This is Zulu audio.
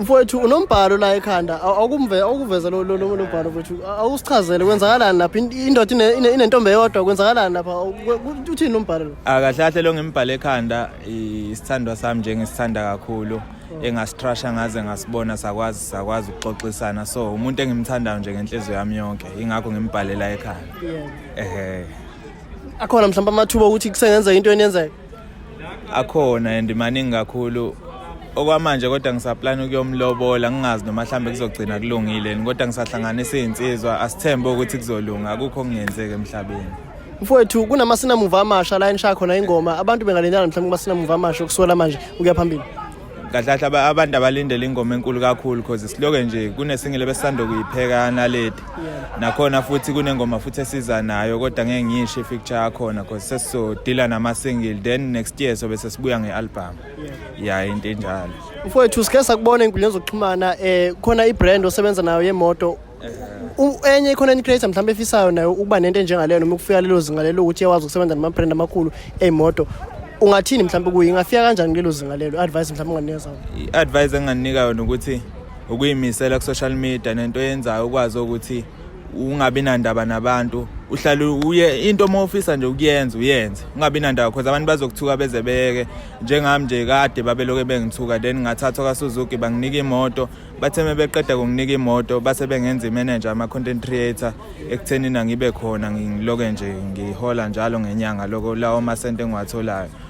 mfowethu unombhalo la ekhanda awukuveza lo mbhalo mfowethu awusichazele kwenzakalani lapha indoda inentombi eyodwa kwenzakalani lapha uthini lo mbhalo lo akahlahle lo ngimbhale ekhanda isithandwa sami nje ngisithanda kakhulu oh. engasitrasha ngaze ngasibona sakwazi sakwazi ukuxoxisana so umuntu engimthandayo nje ngenhliziyo yami yonke ingakho ngimbhalela ekhanda ehe akhona mhlawumbe amathuba okuthi kusengenzeka into enenzeka akhona and maningi kakhulu okwamanje kodwa ngisaplana ukuyomlobola ngingazi noma mhlawumbe kuzogcina kulungile kodwa ngisahlanganisa izinsizwa asithembe ukuthi kuzolunga akukho okungenzeki emhlabeni mfowethu kunamasinamumva amasha la enisha khona ingoma abantu bengalendana mhlawumbe kumasinamuva amasha okusuka la manje ukuya phambili kahle kahle abantu abalindele ingoma enkulu kakhulu because siloke nje kunesingile besisanda kuyipheka naledi nakhona futhi kunengoma futhi esiza nayo kodwa ngeke ngiyisho ifeature yakhona because sesizodila nama-single then next year sobe sesibuya nge-album ya into enjalo mfowethu sike sakubona ey'nkundleni zokuxhumana um khona i-brand osebenza nayo yemoto enye i-content creator mhlawumbe efisayo nayo ukuba nento enjengaleyo noma ukufika lelo zinga lelo ukuthi iyawazi ukusebenza nama-brand amakhulu ey'moto ungathini mhlawumbe kuye ingafika kanjani kulelo zinga lelo i-advice mhlawumbe unganikeza i-advice enginganika yona ukuthi ukuyimisela ku-social media nento yenzayo ukwazi ukuthi ungabi nandaba nabantu uhlale uye into uma ufisa nje ukuyenza uyenze ungabi nandaba because abantu bazokuthuka beze beke njengami nje kade babeloke bengithuka then ngathathwa kasuzuki banginika imoto bathe uma beqeda kunginika imoto base bengenza imanager ama-content creator ekuthenini angibe khona ngiloke nje ngihola njalo ngenyanga loko lawo masente engiwatholayo